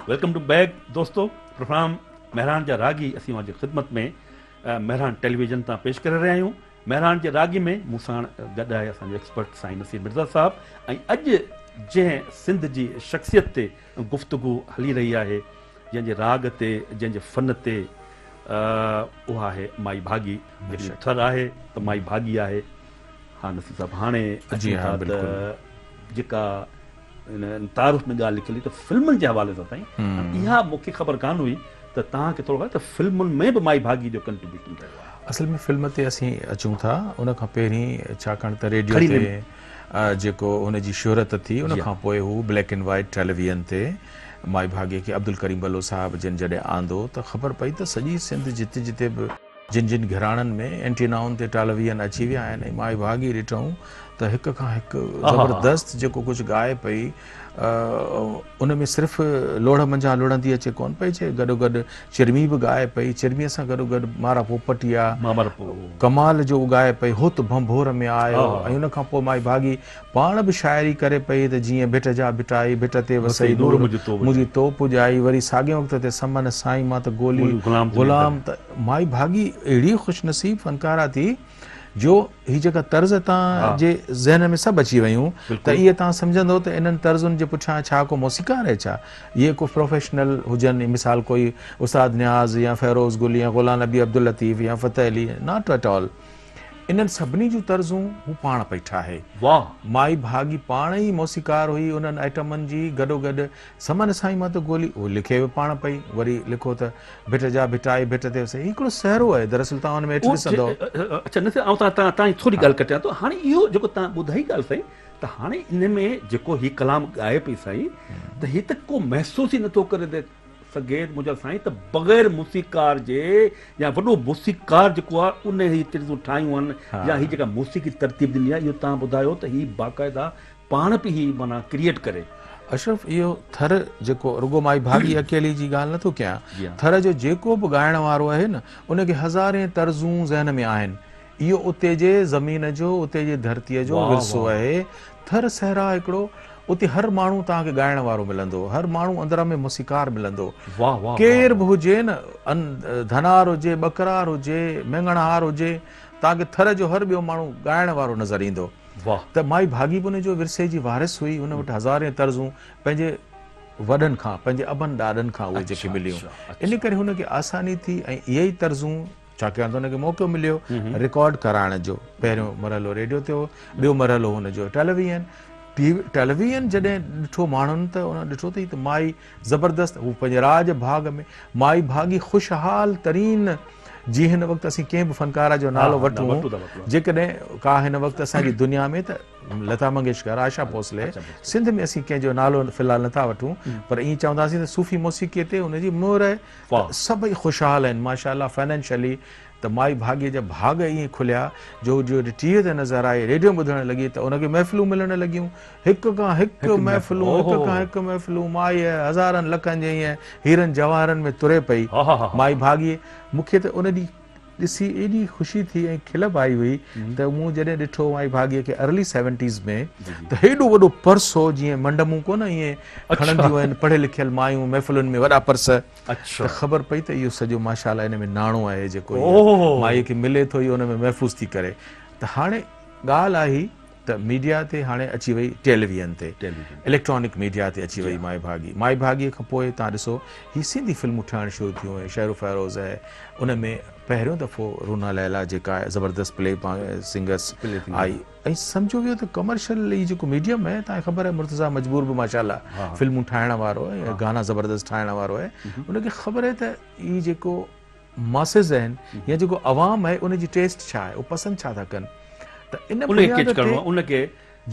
Welcome to back دوستو programme Mehran جا راڳي اسين اوهان جي خدمت ۾ مهراڻ ٽيليويزن تان پيش ڪري رهيا آهيون مهراڻ جي راڳي ۾ مون ساڻ گڏ آهي اسان جو ايڪسپرٽ سائين نصير مرزا صاحب ۽ اڄ جنهن سنڌ جي شخصيت تي گفتگو هلي رهي آهي جنهن جي راڳ تي جنهن جي فن تي اها آهي مائي ڀاڳي جيڪڏهن ٿر آهي ته مائي ڀاڳي آهي ها نصير صاحب هاڻي اچون ٿا ته جيڪا ان تعارف ۾ ڳالهه نڪري ته فلمن جي حوالي سان سائين اها مون کي خبر ڪانه هئي ته توهان کي ٿورو ته فلمن ۾ به مائي ڀاڳي جو ڪنٽريبيوشن رهيو آهي اصل ۾ فلم تي اسين اچون ٿا ان کان پهرين ڇاڪاڻ ته ريڊيو تي جيڪو هن جي شهرت ٿي ان کان پوء هو بليڪ اينڊ وائيٽ ٽيليويزن تي مائي ڀاڳي کي عبدالڪريم بلو صاحب جن جڏهن آندو ته خبر پئي ته سڄي سنڌ جتي جتي به جن جن گهراڻن ۾ اينٽينائن تي ٽالويزن اچي ويا آهن ۽ مائي ڀاڳي ڏٺئون ته هڪ کان هڪ زبردست جيڪو ڪجهه ڳائي پئي ان ۾ صرف لوڙهه منجهان لڙهندي اچي ڪونه پئي چئي، گڏوگڏ چرمي به ڳائي پئي، چرميء سان گڏوگڏ مارا پوپٽيا ڪمال جو ڳائي پئي، هوت ڀنڀور ۾ آء هو ۽ ان کان پوء مائي ڀاڳي پاڻ به شاعري ڪري پئي ته جيئن ڀٽ جا ڀٽائي، ڀٽ تي وسئي نور، منهنجي تو پڄائي، وري ساڳئين وقت تي سمن سائين مان ته گولي غلام ته مائي ڀاڳي اهڙي خوشنصيب فنڪاره ٿي جو، هي جيڪا طرز توهان جي ذهن ۾ سڀ اچي ويون ته اهي توهان سمجهندو ته انهن طرزن جي پٺيان ڇا ڪو موسيقار آهي ڇا؟ اهي ڪو پروفيشنل هجن مثال ڪوئي استاد نياز يا فيروز گل يا غلام نبي عبداللطيف يا Fateh Ali not at all انهن سڀني جون طرزون هو پاڻ پئي ٺاهي مائي ڀاڳي پاڻ ئي موسيقار هئي انهن آئٽمن جي گڏوگڏ سمن سائين مان ته گولي اهو لکي به پاڻ پئي وري لکو ته ڀٽ جا ڀٽائي ڀٽ تي وسي هي هڪڙو سهرو آهي دراصل توهان ان ۾ هيٺ ڏسندؤ. اڇا نصير آئون تان تان جي ٿوري ڳالهه ڪٽيان ٿو هاڻي اهو جيڪو تان ٻڌائي ڳالهه سائين ته هاڻي ان ۾ جيڪو هي ڪلام ڳائي پئي سائين ته هي ته ڪو محسوس ئي نٿو ڪري ته سگيت منهنجا سائين ته بغير موسيقار جي يا وڏو موسيقار جيڪو آهي ان هي طرزون ٺاهيون آهن يا هي جيڪا موسيقي ترتيب ڏني آهي اهو تان ٻڌايو ته هي باقاعده پاڻ پي هي معنيٰ ڪريئيٽ ڪري. اشرف اهو ٿر جيڪو رڳو مائي ڀاڳي اڪيلي جي ڳالهه نٿو ڪيان ٿر جو جيڪو به ڳائڻ وارو آهي نه ان کي هزارين طرزون ذهن ۾ آهن اهو اتي جي زمين جو اتي جي ڌرتي جو ورثو آهي ٿر صحرا هڪڙو اتي هر ماڻهو توهان کي ڳائڻ وارو ملندو هر ماڻهو اندر ۾ موسيقار ملندو ڪير به هجي نه ڌنار هجي ٻڪرار هجي مينگڻهار هجي توهان کي ٿر جو هر ٻيو ماڻهو ڳائڻ وارو نظر ايندو. واهه. ته مائي ڀاڳي به ان جو ورثي جي وارث هئي، ان وٽ هزارين طرزون پنهنجي وڏن کان، پنهنجي ابن ڏاڏن کان اهي جيڪي مليون، ان ڪري هن کي آساني ٿي ۽ اهي ئي طرزون، ڇاڪاڻ ته هن کي موقعو مليو رڪارڊ ڪرائڻ جو، پهريون مرحلو ريڊيو تي هو، ٻيو مرحلو هن جو ٽيليويئن، ٽي ٽيليويئن جڏهن ڏٺو ماڻهن ته انهن ڏٺو ته هي ته مائي. زبردست! هو پنهنجي راڄ ڀاڳ ۾ مائي ڀاڳي خوشحال ترين جي هن وقت اسين ڪنهن به فنڪاره جو نالو وٺون جيڪڏهن ڪا هن وقت اسان جي دنيا ۾ ته لتا منگيشڪر، آشا ڀوسلي، سنڌ ۾ اسين ڪنهن جو نالو في الحال نه ٿا وٺون پر ائين چونداسين ته صوفي موسيقي تي ان جي مهر آهي ته سڀئي خوشحال آهن ماشاء الله فنانشلي ته مائي ڀاڳي جا ڀاڳ ائين کليا جو هو جڏهن ٽي وي تي نظر آئي ريڊيو ٻڌڻ لڳي ته ان کي محفلون ملڻ لڳيون. هڪ کان هڪ محفلون هڪ کان هڪ محفلون مائيء هزارن لکن جي ائين هيرن جواهرن ۾ تري پئي مائي ڀاڳيي مون کي ته ان ڏينهن ڏسي ايڏي خوشي ٿي ۽ کل به آئي هئي ته مون جڏهن ڏٺو مائي ڀاڳيي کي ارلي سيونٽيز ۾ ته هيڏو وڏو پرس هو جيئن منڊمون ڪونه ائين کڻنديون آهن پڙهيل لکيل مايون محفلن ۾ وڏا پرس ته خبر پئي ته اهو سڄو ماشاالله ان ۾ ناڻو آهي جيڪو مائيء کي ملي ٿو اهو ان ۾ محفوظ ٿي ڪري ته هاڻي ڳالهه آهي ته ميڊيا تي هاڻي اچي وئي ٽيليويئن تي اليڪٽرانڪ ميڊيا تي اچي وئي مائي ڀاڳي مائي ڀاڳي کان پوء توهان ڏسو هي سنڌي فلمون ٺهڻ شروع ٿيون هي شهر فيروز هي ان ۾ پهريون دفعو رونا ليلا جيڪا زبردست پلي سنگس آئي ۽ سمجهو ويو ته ڪمرشل هي جيڪو ميڊيم هي توهان کي خبر هي مرتضا مجبور به ماشاءالله فلمون ٺاهڻ وارو هي گانا زبردست ٺاهڻ وارو هي ان کي خبر هي ته هي جيڪو ماسز آهن يا جيڪو عوام آهي ان جي ٽيسٽ ڇا آهي، هو پسند ڇا ٿا ڪن ته ان بنياد تي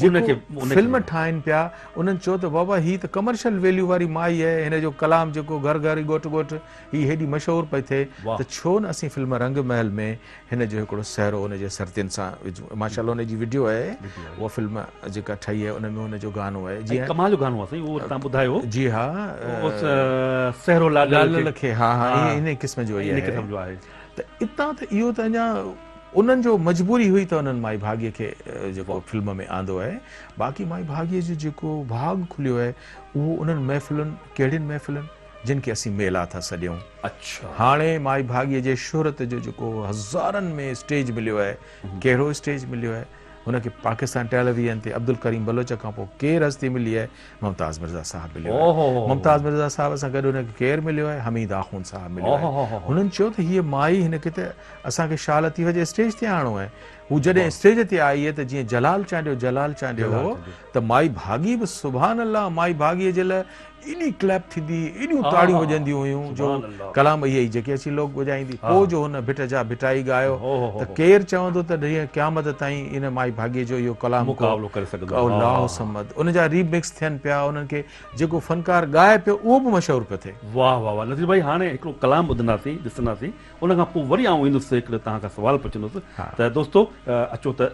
جيڪو فلم ٺاهين پيا انهن چيو ته بابا هي ته ڪمرشل ويليو واري مائي آهي هن جو ڪلام جيڪو گهر گهر ڳوٺ ڳوٺ هي هيڏي مشهور پئي ٿئي ته ڇو نه اسين فلم رنگ محل ۾ هن جو هڪڙو سهرو ان جي سرتين سان وجهون ماشاء الله ان جي وڊيو آهي اها فلم جيڪا ٺهي آهي ان ۾ ان جو گانو آهي جي ڪمال جو گانو آهي سائين اهو تان ٻڌايو جي ها سهرو لاڏ لاڏ کي ها ها انهي قسم جو آهي انهي قسم جو آهي ته اتان ته اهو ته اڃا انهن جو مجبوري هئي ته انهن مائي ڀاڳي کي جيڪو فلم ۾ آندو آهي باقي مائي ڀاڳي جو جيڪو ڀاڳ کليو آهي اهو انهن محفلن ڪهڙين محفلن جن کي اسين ميلا ٿا سڏيون. هاڻي مائي ڀاڳيء جي شهرت جو جيڪو هزارن ۾ اسٽيج مليو آهي، ڪهڙو اسٽيج مليو آهي؟ هن کي پاڪستان ٽيليويزن تي عبدالڪريم بلوچ کان پوء ڪير هستي ملي آهي؟ ممتاز مرزا صاحب مليو آهي. ممتاز مرزا صاحب سان گڏ هن کي ڪير مليو آهي؟ حميد آخوند صاحب مليو آهي. هنن چيو ته هيء مائي، هن کي ته اسان کي شاهه لطيف جي اسٽيج تي آڻڻو آهي. هو جڏهن اسٽيج تي آئي ته جيئن جلال چانڊيو جلال چانڊيو هو ته مائي ڀاڳي به سبحان الله مائي ڀاڳيء جي لاء ايڏي ڪليپ ٿيندي هئي، ايڏيون تاڙيون وڄنديون هيون جو ڪلام اهي ئي جيڪي اچي لوڪ وڄائيندي. پوء جو هن ڀٽ جا ڀٽائي ڳايو ته ڪير چوندو ته ڏينهن قيامت تائين ان مائي ڀاڳي جو اهو ڪلام ڪو الله الصمد ان جا ري مڪس ٿين پيا انهن کي جيڪو فنڪار ڳائي پيو اهو به مشهور پيو ٿئي. واهه واهه واهه نذير ڀائي هاڻي هڪڙو ڪلام ٻڌنداسين ڏسنداسين ان کان پوء وري آئون ايندس هڪڙي توهان کان سوال پڇندس ته دوستو اچو ته.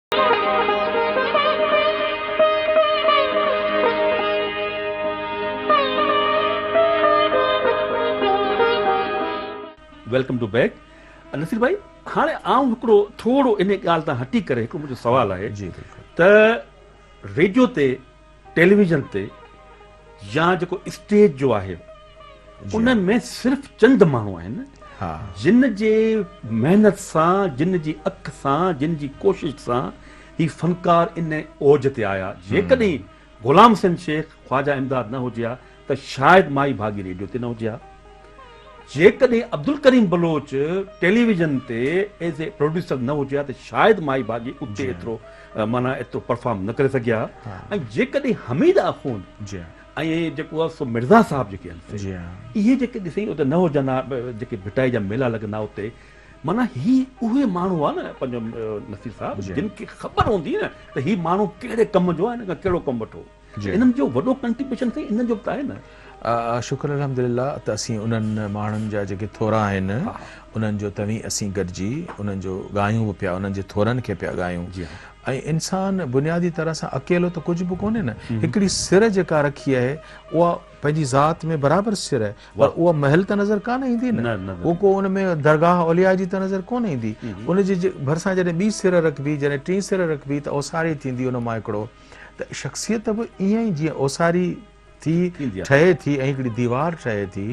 ويلڪم ٽو بيڪ نصير ڀائي هاڻي آئون هڪڙو ٿورو ان ڳالهه تان هٽي ڪري هڪڙو منهنجو سوال آهي جي ته ريڊيو تي ٽيليويزن تي يا جيڪو اسٽيج جو آهي ان ۾ صرف چند ماڻهو آهن جن جي محنت سان جن جي اک سان جن جي ڪوشش سان هي فنڪار ان اوج تي آيا جيڪڏهن غلام حسين شيخ خواجا امداد نه هجي ها ته شايد مائي ڀاڳي ريڊيو تي نه هجي ها. جيڪڏهن عبدالڪريم بلوچ ٽيليويزن تي ايز اي پروڊيوسر نه هجي ها ته شايد مائي ڀاڳي اتي ايترو معنيٰ ايترو پرفارم نه ڪري سگهي ها ۽ جيڪڏهن حميد آخوند ۽ جيڪو آهي سو مرزا صاحب جيڪي آهن سي اهي جيڪي ڏسين اتي نه هجن ها جيڪي ڀٽائي جا ميلا لڳندا ها اتي معنيٰ هي اهي ماڻهو هئا نه پنهنجو نصير صاحب جن کي خبر هوندي نه ته هي ماڻهو ڪهڙي ڪم جو آهي ۽ هن کان ڪهڙو ڪم وٺو. انهن جو وڏو ڪنٽريبيوشن سائين انهن جو به ته آهي نه. شڪر الحمدلله ته اسين انهن ماڻهن جا جيڪي ٿورا آهن انهن جو توهين اسين گڏجي انهن جو ڳايون به پيا انهن جي ٿورن کي پيا ڳايون ۽ انسان بنيادي طرح سان اڪيلو ته ڪجهه به ڪونهي نه هڪڙي سر جيڪا رکي آهي اها پنهنجي ذات ۾ برابر سر آهي پر اها محل ته نظر ڪانه ايندي نه اهو ڪو ان ۾ درگاهه اولياء جي ته نظر ڪونه ايندي ان جي ڀرسان جڏهن ٻي سر رکبي جڏهن ٽين سر رکبي ته اوساري ٿيندي ان مان هڪڙو ته شخصيت به ائين ئي جيئن اوساري ٿي ٺهي ٿي ۽ هڪڙي ديوار ٺهي ٿي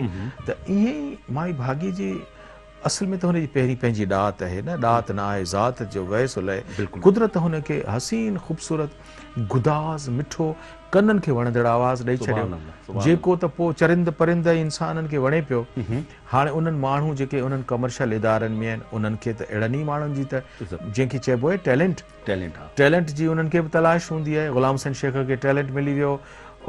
ته ائين ئي مائي ڀاڳي جي اصل ۾ ته هن جي پهرين پنهنجي ڏات آهي نه ڏات نه آهي ذات جو ويس الائي قدرت هن کي حسين خوبصورت گداز مٺو ڪنن کي وڻندڙ آواز ڏئي ڇڏيو جيڪو ته پوء چرند پرند ۽ انسانن کي وڻي پيو هاڻي انهن ماڻهو جيڪي انهن ڪمرشل ادارن ۾ آهن انهن کي ته اهڙن ئي ماڻهن جي ته جنهن کي چئبو آهي ٽيلنٽ ٽيلنٽ آ. ٽيلنٽ جي انهن کي به تلاش هوندي آهي. غلام حسين شيخ کي ٽيلنٽ ملي ويو.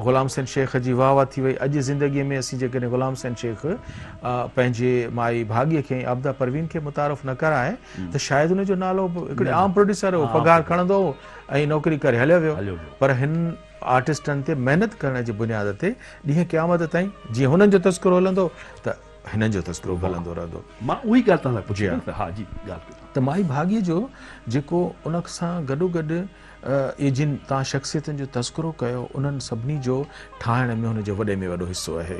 غلام حسين شيخ جي واهه واهه ٿي وئي. اڄ زندگيء ۾ اسين جيڪڏهن غلام حسين شيخ پنهنجي مائي ڀاڳي کي ۽ عابده پروين کي متعارف نه ڪرائي ته شايد ان جو نالو به هڪڙي عام پروڊيوسر هو، پگهار کڻندو هو ۽ نوڪري ڪري هليو ويو. پر هن آرٽسٽن تي محنت ڪرڻ جي بنياد تي ڏينهن قيامت تائين جيئن هنن جو تذڪرو هلندو ته. هنن جو تذڪرو به هلندو رهندو. مان اهو ئي ڳالهه توهان کان پڇي رهيو هوس. ها جي ڳالهه ڪيو. ته مائي ڀاڳي جو جيڪو ان سان گڏوگڏ اهي جن توهان شخصيتن جو تذڪرو ڪيو انهن سڀني جو ٺاهڻ ۾ هن جو وڏي ۾ وڏو حصو آهي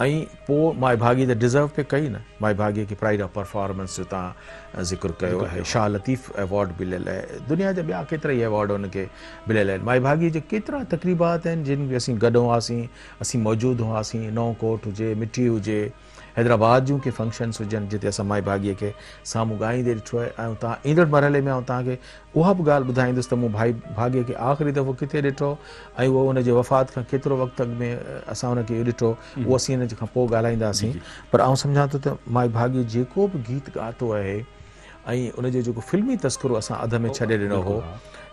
۽ پوء مائي ڀاڳي ته ڊزرو پئي ڪئي نه مائي ڀاڳي کي پرائيڊ آف پرفارمنس جو توهان ذڪر ڪيو آهي شاهه لطيف ايوارڊ مليل آهي دنيا جا ٻيا ڪيترائي ايوارڊ هن کي مليل آهن مائي ڀاڳي جا ڪيترا تقريبات آهن جن ۾ اسين گڏ هئاسين اسين موجود هئاسين، نئون ڪوٽ هجي، مٺي هجي، حيدرآباد جون ڪي فنڪشنس هجن جتي اسان مائي ڀاڳيء کي سامهون ڳائيندي ڏٺو آهي ۽ اتان ايندڙ مرحلي ۾ آئون توهان کي اها به ڳالهه ٻڌائيندس ته مون مائي ڀاڳيء کي آخري دفعو ڪٿي ڏٺو ۽ اهو ان جي وفات کان ڪيترو وقت اڳ ۾ اسان ان کي ڏٺو اهو اسين ان کان پوء ڳالهائينداسين پر آئون سمجهان ٿو ته مائي ڀاڳي جيڪو به گيت ڳاتو آهي ۽ ان جو جيڪو فلمي تذڪرو اسان اڌ ۾ ڇڏي ڏنو هو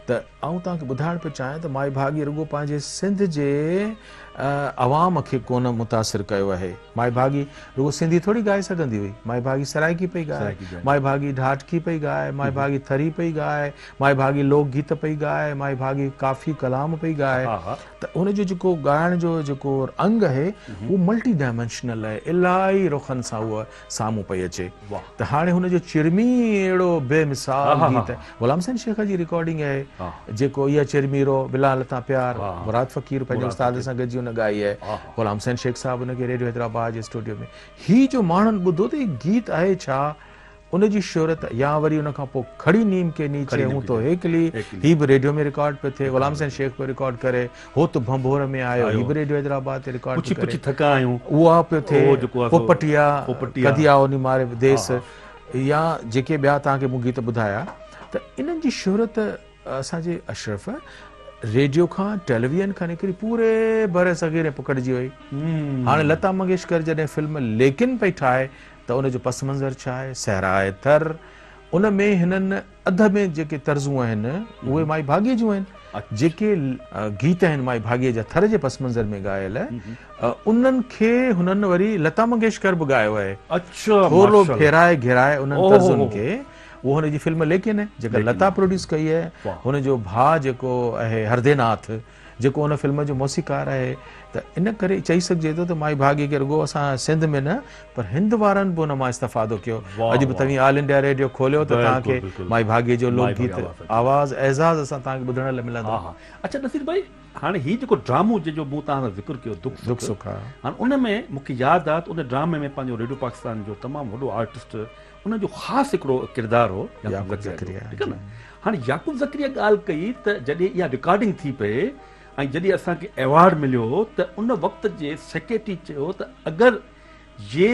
ته آئون توهان کي ٻڌائڻ پيو چاهيان ته مائي ڀاڳي رڳو پنهنجي سنڌ جي عوام کي ڪونه متاثر ڪيو آهي. مائي ڀاڳي رڳو سنڌي ٿوري ڳائي سگهندي هئي. مائي ڀاڳي سرائڪي پئي ڳائي، مائي ڀاڳي ڍاٽڪي پئي ڳائي، مائي ڀاڳي ٿري پئي ڳائي، مائي ڀاڳي لوڪ گيت پئي ڳائي، مائي ڀاڳي ڪافي ڪلام پئي ڳائي ته ان جو جيڪو ڳائڻ جو جيڪو انگ اهي هو ملٽي ڊائمينشنل اهي الاهي رخن سان هو سامهون پئي اچي ته هاڻي هن جو چرمي ئي اهڙو بي مثال گيت آهي غلام حسين شيخ جي رڪارڊنگ آهي جيڪو اي چرمي رو بلا لتا پيار مراد فقير پنهنجي استاد سان گڏجي ان ڳائي آهي غلام حسين شيخ صاحب ان کي ريڊيو حيدرآباد جي اسٽوڊيو ۾ هي جو ماڻهن ٻڌو ته هي گيت آهي ڇا ان جي شهرت يا وري ان کان پوء کڙي نيم ڪي نيچي هون تو هيڪلي هي به ريڊيو ۾ رڪارڊ پيو ٿئي غلام حسين شيخ پيو رڪارڊ ڪري هو ته ڀنڀور ۾ آيو. هي به ريڊيو حيدرآباد تي رڪارڊ ٿي ڪري. اها پيو ٿئي. پوپٽيا، ڪڌيا او ني ماري ديس يا جيڪي ٻيا توهان کي مون گيت ٻڌايا ته انهن جي شهرت اسان جي اشرف ريڊيو کان ٽيليويئن کان نڪري پوري بر صغير ۾ پکڙجي وئي. هاڻي لتا منگيشڪر جڏهن فلم ليڪن پئي ٺاهي ته ان جو پس منظر ڇا آهي؟ صحرائي ٿر ان ۾ هنن اڌ ۾ جيڪي طرزون آهن، اهي مائي ڀاڳيء جون آهن. جيڪي گيت آهن مائي ڀاڳيء جا ٿر جي پس منظر ۾ ڳايل، انهن کي هنن وري لتا منگيشڪر به ڳايو آهي. ٿورڙو ڦيرائي گهيرائي انهن طرزن کي اهو هن جي فلم ليڪين آهي، جيڪا لتا پروڊيوس ڪئي آهي. هن جو ڀاء جيڪو آهي هرديناٿ، جيڪو ان فلم جو موسيقار آهي ته ان ڪري چئي سگهجي ٿو ته مائي ڀاڳي کي رڳو اسان سنڌ ۾ نه پر هند وارن به ان مان استفادو ڪيو اڄ به توهين آل انڊيا ريڊيو کوليو ته توهان کي مائي ڀاڳي جو لوڪ گيت آواز اعزاز اسان توهان کي ٻڌڻ لاء ملندو. اڇا نصير ڀائي هاڻي هي جيڪو ڊرامو جنهن جو مون توهان سان ذڪر ڪيو دک سک هاڻي ان ۾ مون کي ياد آهي ته ان ڊرامي ۾ پنهنجو ريڊيو پاڪستان جو تمام وڏو آرٽسٽ ان جو خاص هڪڙو ڪردار هو يعقوب زڪريا جو ٺيڪ آهي نه هاڻي يعقوب زڪريا ڳالهه ڪئي ته جڏهن اها رڪارڊنگ ٿي پئي ۽ جڏهن اسان کي ايوارڊ مليو ته ان وقت جي سيڪريٽري چيو ته اگر يي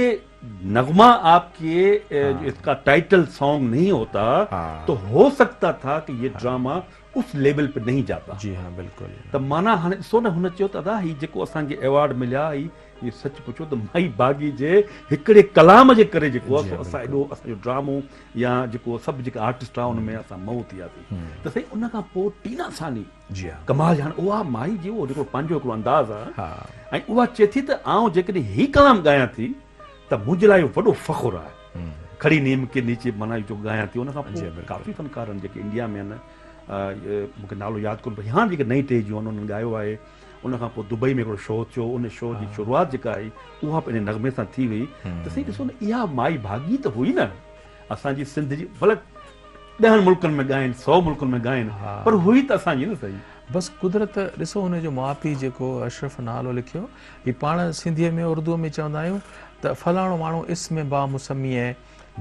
نغمه آپ ڪي جو اسڪا ٽائيٽل سانگ نهين هوتا تو هو سگتا ٿا ڪي يي ڊراما اس ليول په نهين جاتا. جي ها بلڪل. ته معنيٰ هاڻي ڏسو نه هن چيو ته ادا هي جيڪو اسان کي ايوارڊ مليا هي هي سچ پڇو ته مائي باغي جي هڪڙي ڪلام جي ڪري جيڪو آهي سو اسان ايڏو اسان جو ڊرامو يا جيڪو سڀ جيڪا آرٽسٽ آهي ان ۾ اسان مئو ٿي وياسي ته سائين ان کان پوء ٽينا ثاني جي ها ڪمال جان اها مائي جي اهو جيڪو پنهنجو هڪڙو انداز آهي ها ۽ اها چئي ٿي ته آئون جيڪڏهن هي ڪلام ڳايان ٿي ته منهنجي لاء اهو وڏو فخر آهي. کڙي نيم ڪي نيچي معنيٰ اهي جو ڳايان ٿيو ان کان پوء ڪافي فنڪارن جيڪي انڊيا ۾ آهن مون کي نالو ياد ڪونهي پر هاڻ جيڪي نئين ٽهي جون آهن انهن ڳايو آهي ان کان پوء دبئي ۾ هڪڙو شو ٿيو ان شو جي شروعات جيڪا آهي اها به انهي نغمي سان ٿي هئي ته سائين ڏسو نه اها مائي ڀاڳي ته هئي نه اسان جي سنڌ جي بلڪ ڏهن ملڪن ۾ ڳائين سؤ ملڪن ۾ ڳائين پر هئي ته اسان جي نه سائين. بس قدرت ڏسو ان جو ماء پيء جيڪو اشرف نالو لکيو. جي پاڻ سنڌيء ۾ اردوء ۾ چوندا آهيون ته فلاڻو ماڻهو اسم با مسميء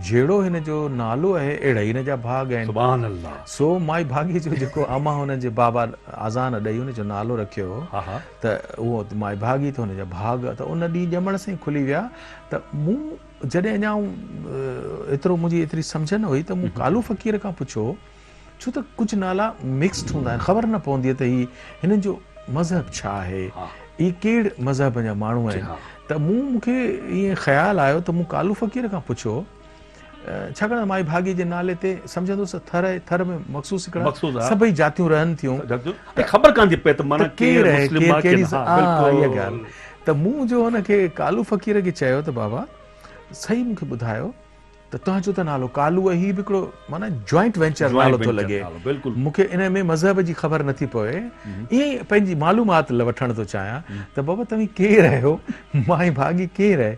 جهڙو هن جو نالو اهي اهڙا ئي هن جا ڀاڳ آهن. سبحان الله. سو مائي ڀاڳي جو جيڪو امان هن جي بابا اذان ڏئي هن جو نالو رکيو هو ته اهو مائي ڀاڳي ته هن جا ڀاڳ ته ان ڏينهن ڄمڻ سان ئي کلي ويا ته مون جڏهن اڃا ايترو منهنجي ايتري سمجهه نه هئي ته مون ڪالو فقير کان پڇيو ڇو ته ڪجهه نالا مڪسڊ هوندا آهن خبر نه پوندي ته هي هنن جو مذهب ڇا آهي هي ڪهڙ مذهب جا ماڻهو آهن ته مون مون کي ائين خيال آيو ته مون ڪالو فقير کان پڇيو ڇاڪاڻ ته مائي ڀاڳي جي نالي تي سمجهندو هوس ٿر ٿر ۾ مخصوص هڪڙا سڀئي جاتيون رهن ٿيون خبر ڪانه ٿي پئي ته مانا ڪير آهي ڪير ڪهڙي اها ڳالهه ته مون جو هن کي ڪالو فقير کي چيو ته بابا صحيح مون کي ٻڌايو ته تنهنجو ته نالو ڪالو ۽ هي به هڪڙو معنيٰ جوائنٽ وينچر نالو ٿو لڳي. مون کي انهيء ۾ مذهب جي خبر نٿي پوي. ائين ئي پنهنجي معلومات وٺڻ ٿو چاهيان ته بابا توهين ڪير آهيو؟ مائي ڀاڳي ڪير آهي؟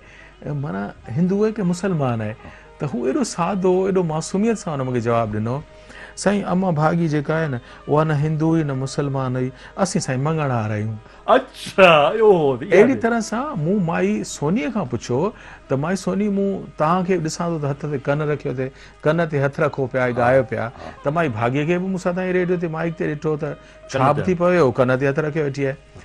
معنيٰ هندو آهي ڪي مسلمان آهي؟ ته هو ايڏو سادو، ايڏو معصوميت سان هن مون کي جواب ڏنو. سائين امان ڀاڳي جيڪا آهي نه اها نه هندو هئي نه مسلمان هئي اسين سائين مڱڻهار آهيون. اڇا اوهو ته اها اهڙي طرح سان مون مائي سوني کان پڇيو ته مائي سوني مون توهان کي به ڏسان ٿو ته هٿ تي ڪن رکيو ٿي ڪن تي هٿ رکو پيا ۽ ڳايو پيا ته مائي ڀاڳي کي به مون سان تائين ريڊيو تي مائيڪ تي ڏٺو ته ڇا به ٿي پوي اهو ڪن تي هٿ رکيو ويٺي آهي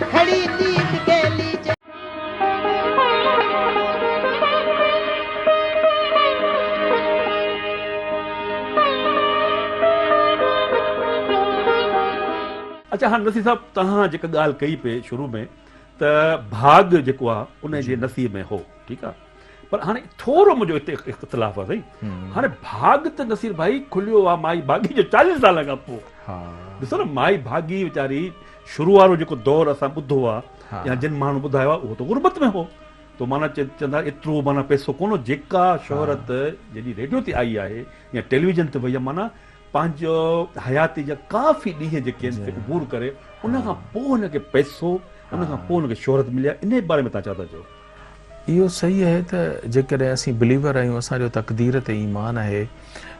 گهڙي نيم گيلي جي. اڇا هاڻ نصير صاحب توهان جيڪا ڳالهه ڪئي پئي شروع ۾ ته ڀاڳ جيڪو آهي ان جي نصيب ۾ هو ٺيڪ آهي پر هاڻي ٿورو منهنجو هتي اختلاف آهي سائين هاڻي ڀاڳ ته نصير ڀائي کليو آهي مائي ڀاڳي جو چاليهن سالن کان پوء ڏسو نه مائي ڀاڳي ويچاري شروع وارو جيڪو دور اسان ٻڌو آهي يا جن ماڻهن ٻڌايو آهي اهو ته غربت ۾ هو تو معنيٰ چوندا ايترو معنيٰ پئسو ڪونه هو جيڪا شهرت جڏهن ريڊيو تي آئي آهي يا ٽيليويزن تي وئي آهي معنيٰ پنهنجو حياتي جا ڪافي ڏينهن جيڪي آهن سي عبور ڪري ان کان پوء هن کي پئسو ان کان پوء هن کي شهرت ملي آهي انهي باري ۾ تون ڇا ٿا چئو اهو صحيح آهي ته جيڪڏهن اسين بليور آهيون، اسان جو تقدير تي ايمان آهي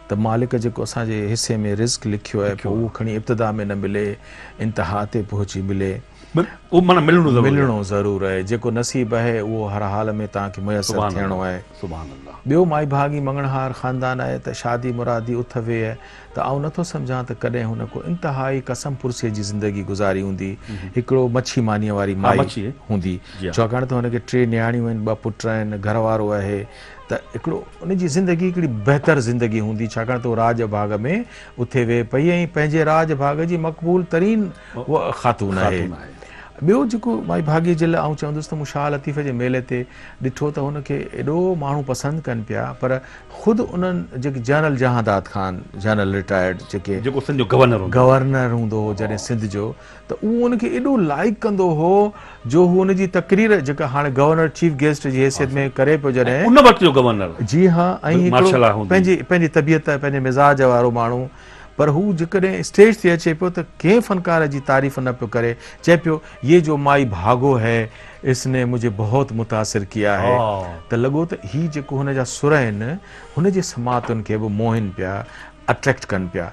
ته مالڪ جيڪو اسان جي حصي ۾ رزق لکيو آهي پوء اهو کڻي ابتدا ۾ نه ملي انتها تي پهچي ملي. ملڻو ضرور آهي. جيڪو نصيب آهي اهو هر حال ۾ توهان کي ميسر ٿيڻو آهي. ٻيو مائي ڀاڳي مڱڻهار خاندان آهي ته شادي مرادي اٿ ويهه ته آئون نه ٿو سمجهان ته ڪڏهن هن ڪو انتهائي قسم پرسيء جي زندگي گذاري هوندي. هڪڙو مڇي مانيء واري مائي هوندي، ڇاڪاڻ ته هن کي ٽي نياڻيون آهن، ٻه پٽ آهن، گهر وارو آهي، ته هڪڙو ان جي زندگي هڪڙي بهتر زندگي هوندي، ڇاڪاڻ ته هو راڄ ڀاڳ ۾ اٿي ويهي پئي ۽ پنهنجي راڄ ڀاڳ جي مقبول ترين خاتون آهي. ٻيو جيڪو مائي ڀاڳيء جي لاء آئون چوندس ته مون شاهه لطيف جي ميلي تي ڏٺو ته هن کي ايڏو ماڻهو پسند ڪن پيا، پر خود انهن جيڪي general Jahandad Khan, general retired, جيڪي جيڪو سنڌ جو گورنر هوندو هو. گورنر هوندو هو جڏهن سنڌ جو ته اهو ان کي ايڏو لائق ڪندو هو جو هو ان جي تقرير جيڪا هاڻي گورنر چيف گيسٽ جي حيثيت ۾ ڪري پيو جڏهن. ۽ ان وقت جو گورنر جي ها ۽ هڪڙو مارشل ها هوندو. پنهنجي پنهنجي طبيعت پنهنجي مزاج وارو ماڻهو پر هو جيڪڏهن اسٽيج تي اچي پيو ته ڪنهن فنڪار جي تعريف نه پيو ڪري، چئي پيو يي جو مائي ڀاڳو هي اس ني مجهي بهت متاثر ڪيا هي ته لڳو ته هي جيڪو هن جا سر آهن هن جي سماعتن کي به موهين پيا اٽريڪٽ ڪن پيا.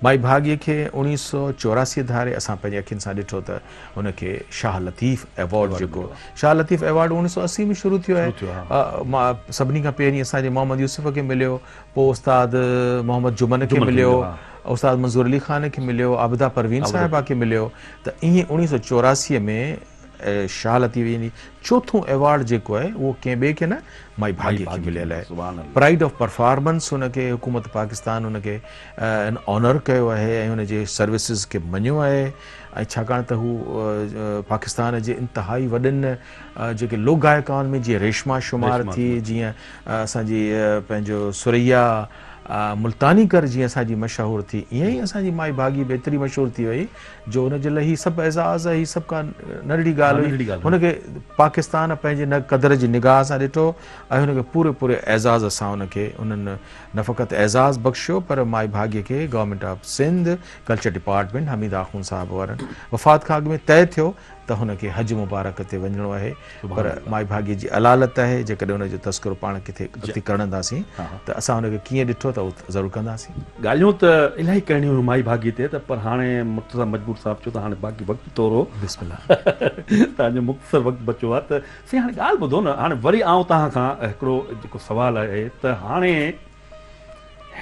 مائي ڀاڳي کي اوڻيهه سؤ چوراسي ڌاري اسان پنهنجي اکين سان ڏٺو ته هن کي شاهه لطيف ايوارڊ جيڪو شاهه لطيف ايوارڊ اوڻيهه سؤ اسي ۾ شروع ٿيو ۽ سڀني کان پهرين اسان جي محمد يوسف کي مليو پوء استاد محمد جمن کي مليو، استاد منظور علي خان کي مليو، عابده پروين صاحبه کي مليو ته ائين اڻيهه سؤ چوراسي ۾ شاهه لطيف جي چوٿون ايوارڊ جيڪو آهي اهو ڪنهن ٻئي کي نه مائي ڀاڳي کي مليل آهي. پرائيڊ آف پرفارمنس ان کي حڪومت پاڪستان ان کي آنر ڪيو آهي ۽ ان جي سروسز کي مڃيو آهي ۽ ڇاڪاڻ ته هو پاڪستان جي انتهائي وڏن جيڪي لوڪ گائڪائن ۾ جيئن ريشما شمار ٿي جيئن اسان جي پنهنجو ثريا ملتانيڪر جيئن اسان جي مشهور ٿي ايئن ئي اسان جي مائي ڀاڳي به ايتري مشهور ٿي وئي جو ان جي لاء هي سڀ اعزاز هي سڀ ڪا ننڍڙي ڳالهه هئي هن کي پاڪستان پنهنجي نه قدر جي نگاهه سان ڏٺو ۽ هن کي پوري پوري اعزاز سان ان کي انهن نه فقط اعزاز بخشيو پر مائي ڀاڳي کي government of Sindh culture department Hameed Akhund sahib وارن وفات کان اڳ ۾ طئي ٿيو ته هن کي حج مبارڪ تي وڃڻو آهي پر مائيڀاڳي جي علالت آهي جيڪڏهن ان جو تذڪرو پاڻ ڪٿي اتي ڪرڻداسين ته اسان ان کي ڪيئن ڏٺو ته اهو ضرور ڪنداسين. ڳالهيون ته الائي ڪرڻيون هيون مائي ڀاڳي تي ته پر هاڻي مرتضيٰ مجبور صاحب چيو ته هاڻي باقي وقت ٿورو توهان جو مختصر وقت بچو آهي ته سائين هاڻي ڳالهه ٻڌو نه هاڻي وري آئون توهان کان هڪڙو جيڪو سوال آهي ته هاڻي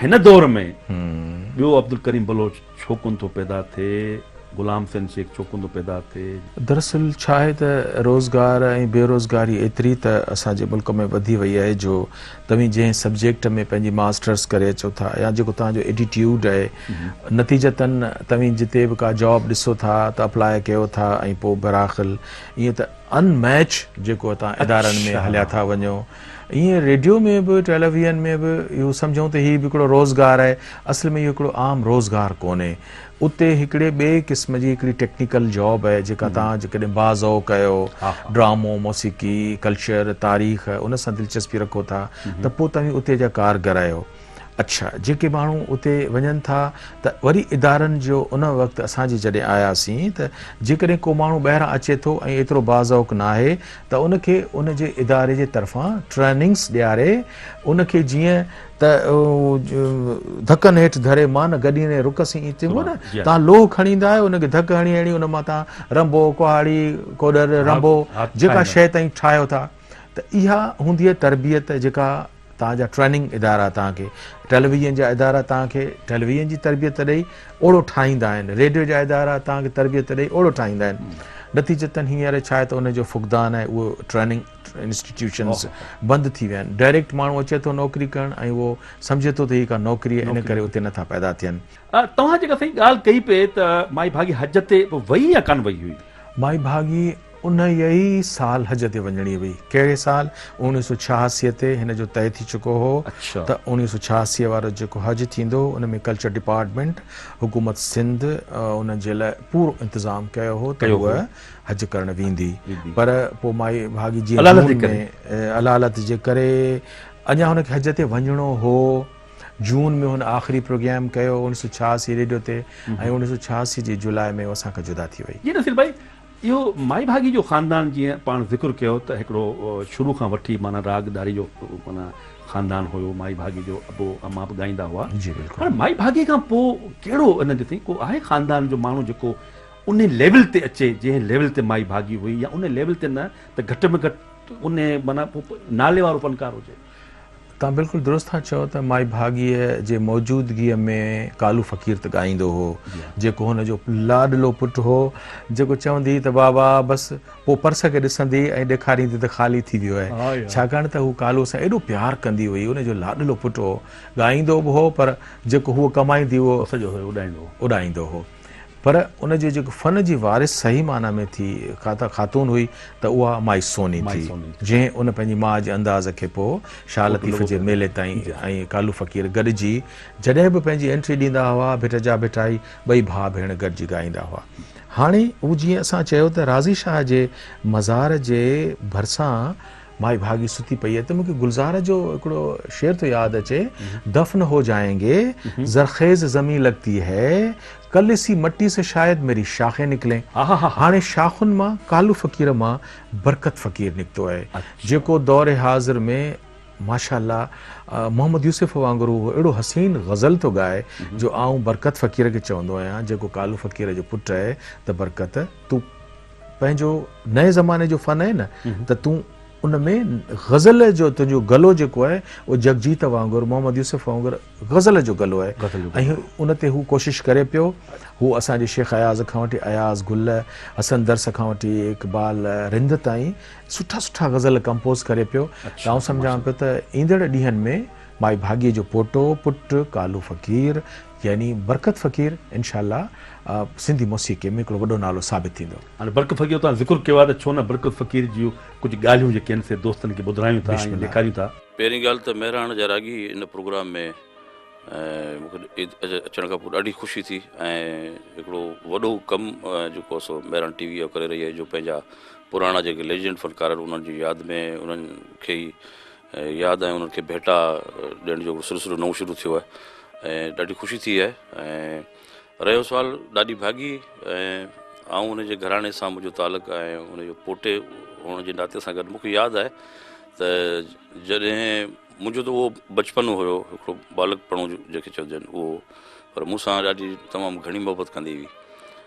هن دور ۾ ٻيو عبدالڪريم بلوچ ڇو ڪونه ٿو پيدا ٿئي، غلام حسين شيخ ڇو ڪونه ٿو پيدا ٿئي؟ دراصل ڇا آهي ته روزگار ۽ بيروزگاري ايتري ته اسان جي ملڪ ۾ وڌي وئي آهي جو توهين جنهن سبجيڪٽ ۾ پنهنجي ماسٽرس ڪري اچو ٿا يا جيڪو توهان جو ايٽيٽيوڊ آهي نتيجتاً توهين جتي به ڪا جاب ڏسو ٿا ته اپلاء ڪيو ٿا ۽ پوء براخل ائين ته ان ميچ جيڪو هتان ادارن ۾ هليا ٿا وڃو ائين ريڊيو ۾ به ٽيليويزن ۾ به اهو سمجهون ته هي به هڪڙو روزگار آهي، اصل ۾ اهو هڪڙو عام روزگار ڪونهي. اتي هڪڙي ٻئي قسم جي هڪڙي ٽيڪنيڪل جاب آهي جيڪا توهان جيڪڏهن بعض اوق اهو ڊرامو، موسيقي، ڪلچر، تاريخ ان سان دلچسپي رکو ٿا ته پوء توهين اتي جا ڪارگر آهيو. اڇا جيڪي ماڻهو اتي وڃن ٿا ته وري ادارن جو ان وقت اسان جي جڏهن آياسين ته جيڪڏهن ڪو ماڻهو ٻاهران اچي ٿو ۽ ايترو باذوق ناهي ته ان کي ان جي اداري جي طرفان ٽريننگس ڏياري ان کي جيئن ته ڌڪن هيٺ ڌري مان گڏي ۽ رڪ سين ايئن چئبو نه تان لوهه کڻي ايندا آهيو ان کي ڌڪ هڻي هڻي ان مان تان رنبو ڪهاڙي ڪوڏر رنبو جيڪا شيء تائين ٺاهيو ٿا ته اها هوندي آهي تربيت جيڪا توهان جا ٽريننگ ادارا توهان کي ٽيلي ويزن جا ادارا توهان کي ٽيلي ويزن جي تربيت ڏئي اوڙو ٺاهيندا آهن ريڊيو جا ادارا توهان کي تربيت ڏئي اوڙو ٺاهيندا آهن نتيجتن هينئر ڇا آهي ته ان جو فقدان آهي اهو ٽريننگ انسٽيٽيوشنز بند ٿي ويا آهن ڊائريڪٽ ماڻهو اچي ٿو نوڪري ڪرڻ ۽ اهو سمجهي ٿو ته هي ڪا نوڪري آهي ان ڪري اتي نٿا پيدا ٿين. توهان جيڪا سائين ڳالهه ڪئي پئي ته مائي ڀاڳي حج تي وئي يا ڪانه وئي هئي؟ مائي ڀاڳي انهيء ئي سال حج تي وڃڻي هئي. ڪهڙي سال؟ اوڻيهه سؤ ڇهاسيء تي هن جو طئي ٿي چڪو هو ته اوڻيهه سؤ ڇهاسيء وارو جيڪو حج ٿيندو، ان ۾ ڪلچر ڊپارٽمينٽ، حڪومت سنڌ، ان جي لاء پورو انتظام ڪيو هو ته هوء حج ڪرڻ ويندي. پر پوء مائي ڀاڳي جيئن جون ۾ علالت جي ڪري اڃا هن کي حج تي وڃڻو هو. جون ۾ هن آخري پروگرام ڪيو اوڻيهه سؤ ڇهاسي ريڊيو تي ۽ اوڻيهه سؤ ڇهاسي جي جولاء ۾ هوء اسان کان جدا ٿي وئي. اهو مائي ڀاڳي جو خاندان جيئن پاڻ ذڪر ڪيو ته هڪڙو شروع کان وٺي معنيٰ راڳ ڏاري جو معنيٰ خاندان هيو مائي ڀاڳي جو ابو اما به ڳائيندا هئا هاڻي مائي ڀاڳي کان پوء ڪهڙو ان جو ٿي ڪو آهي خاندان جو ماڻهو جيڪو ان ليول تي اچي جنهن ليول تي مائي ڀاڳي هئي يا ان ليول تي نه ته گهٽ ۾ گهٽ ان معنيٰ نالي وارو فنڪار هجي. توهان بلڪل درست ٿا چئو ته مائي ڀاڳيء جي موجودگيء ۾ ڪالو فقير ته ڳائيندو هو، جيڪو هن جو لاڏلو پٽ هو، جيڪو چوندي هئي ته بابا بس پوء پرس کي ڏسندي ۽ ڏيکاريندي ته خالي ٿي ويو آهي، ڇاڪاڻ ته هوء ڪالوء سان ايڏو پيار ڪندي هئي، هن جو لاڏلو پٽ هو، ڳائيندو به هو پر جيڪو هوء ڪمائيندي هئي اهو اڏائيندو هو. پر ان جي جيڪو فن جي وارث صحيح معنيٰ ۾ ٿي خاتون هئي ته اها مائي سوني ٿي، جنهن ان پنهنجي ماء جي انداز کي پوء شاهه لطيف جي ميلي تائين ۽ ڪالو فقير گڏجي جڏهن به پنهنجي انٽري ڏيندا هئا، ڀٽ جا ڀٽائي ٻئي ڀاء ڀيڻ گڏجي ڳائيندا هئا. هاڻي هو جيئن اسان چيو ته راضي شاهه جي مزار جي ڀرسان، مائي ڀاڳي ستي پئي آهي ته مون کي گلزار جو هڪڙو شعر ٿو ياد اچي، دفن هو جائين گي، زرخيز زمين لگتي هي، ڪل اسي مٽي سي شايد ميري شاخين نڪلين. هاڻي شاخن مان ڪالو فقير مان برڪت فقير نڪتو آهي، جيڪو دور حاضر ۾ ماشاءالله محمد يوسف وانگر هو اهڙو حسين غزل ٿو ڳائي جو آئون برڪت فقير کي چوندو آهيان جيڪو ڪالو فقير جو پٽ اهي ته برڪت تون پنهنجو نئين زماني جو فن آهي نه ته تون ان ۾ غزل جو تنهنجو گلو جيڪو آهي اهو جگجيت وانگر محمد يوسف وانگر غزل جو گلو آهي ۽ ان تي هو ڪوشش ڪري پيو هو اسان جي شيخ اياز کان وٺي اياز گل حسن درس کان وٺي اقبال رند تائين سٺا سٺا غزل ڪمپوز ڪري پيو ته آئون سمجهان پيو ته ايندڙ ڏينهن ۾ مائي ڀاڳي جو پوٽو پٽ ڪالو فقير يعني برڪت فقير انشاء الله سنڌي موسيقي ۾ هڪڙو وڏو نالو ثابت ٿيندو. هاڻي برڪت فقير توهان ذڪر ڪيو آهي ته ڇو نه برڪت فقير جون ڪجهه ڳالهيون جيڪي آهن سي دوستن کي ٻڌرايون ٿا ۽ ڏيکاريون ٿا. پهرين ڳالهه ته مهراڻ جا راڳي ان پروگرام ۾ اچڻ کان پوء ڏاڍي خوشي ٿي ۽ هڪڙو وڏو ڪم جيڪو آهي سو مهراڻ ٽي وي اهو ڪري رهي آهي جو پنهنجا پراڻا جيڪي ليجنڊ فنڪار آهن انهن جي ياد ۾ انهن کي ئي ياد ۽ انهن کي ڀيٽا ڏيڻ جو سلسلو نئون شروع ٿيو آهي ۽ ڏاڍي خوشي ٿي آهي ۽ رهيو سوال ڏاڏي ڀاڳي ۽ آئون ان جي گهراڻي سان منهنجو تعلق ۽ ان جو پوٽي هئڻ جي ناتي سان گڏ مون کي ياد آهي ته جڏهن منهنجو ته اهو بچپن هيو هڪڙو ٻالڪپڻو جنهن کي چئجن اهو پر مون سان ڏاڏي تمام گهڻي محبت ڪندي هئي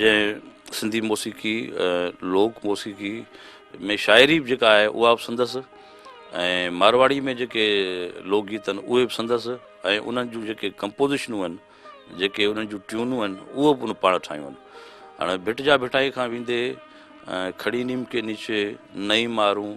جنهن سنڌي موسيقي لوڪ موسيقي ۾ شاعري به جيڪا آهي اها به سندس ۽ مارواڙي ۾ جيڪي لوڪ گيت آهن اهي به سندس ۽ انهن جون جيڪي ڪمپوزيشنون آهن جيڪي انهن جون ٽيونون آهن اهو به ان پاڻ ٺاهيون آهن هاڻي ڀٽ جا ڀٽائي کان ويندي کڙي نيم ڪي نيچي نئي مارون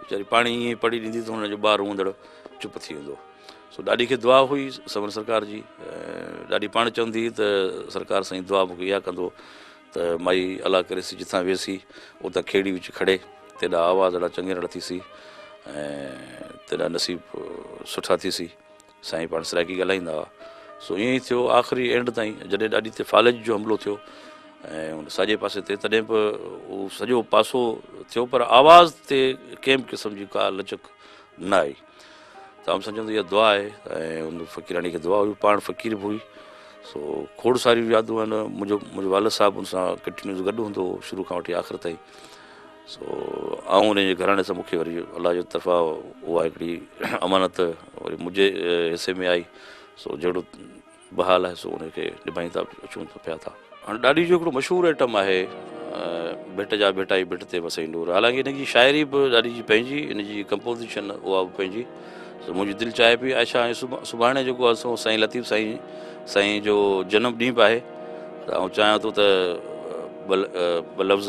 ويچاري پاڻهي ائين پڙهي ڏيندي ته هن جو ٻار روئندڙ چپ ٿي ويندو سو ڏاڏي کي دعا هئي سمن سرڪار جي ڏاڏي پاڻ چوندي هئي ته سرڪار سائين دعا مون کي اها ڪندو ته مائي الا ڪريس جتان ويسي اتان کيڙي وچ کڙي تيڏا آواز اڙا چنگيرڙ ٿيسي ۽ تيڏا نصيب سٺا ٿيسي سائين پاڻ سرائيڪي ڳالهائيندا هئا. سو ائين ئي ٿيو آخري اينڊ تائين جڏهن ڏاڏي تي فالج جو حملو ٿيو ۽ ان ساڄي پاسي تي تڏهن به اهو سڄو پاسو ٿيو پر آواز تي ڪنهن به قسم جي ڪا لچڪ نه آئي ته آئون سمجهان ته اها دعا آهي ۽ ان فقيراڻي کي دعا هئي پاڻ فقير به هئي سو کوڙ ساريون يادون آهن منهنجو منهنجو والد صاحب ان سان ڪنٽينيوز گڏ هوندو هو شروع کان وٺي آخر تائين سو آئون انهيء گهراڻي سان مون کي وري الله جي طرفان اها هڪڙي امانت وري منهنجي حصي ۾ آئي سو جهڙو بحال آهي سو ان کي نڀائيندا اچون ته پيا ٿا. هاڻ ڏاڏي جو هڪڙو مشهور ائٽم آهي ڀٽ جا ڀٽائي ڀٽ تي وسئي نور حالانڪه ان جي شاعري به ڏاڏي جي پنهنجي ان جي ڪمپوزيشن اها به پنهنجي سو منهنجي دل چاهي پئي عائشه هاڻي سڀاڻي جيڪو آهي سو سائين لطيف سائين سائين جو جنم ڏينهن به آهي ته آئون چاهيان ٿو ته ٻه لفظ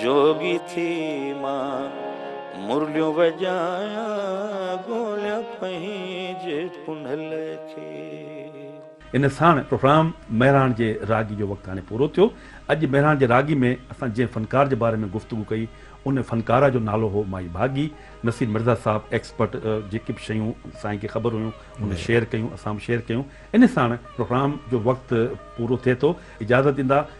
جوڳي ٿي مان مرليون وڄايان ڳوليان پنهنجي پنهل کي. ان ساڻ پروگرام مهراڻ جي راڳي جو وقت هاڻي پورو ٿيو. اڄ مهراڻ جي راڳي ۾ اسان جنهن فنڪار جي باري ۾ گفتگو ڪئي ان فنڪاره جو نالو هو مائي ڀاڳي. نصير مرزا صاحب ايڪسپرٽ جيڪي به شيون سائين کي خبر هيون ان شيئر ڪيون اسان به شيئر ڪيون. ان ساڻ پروگرام جو وقت پورو ٿئي ٿو. اجازت ڏيندا.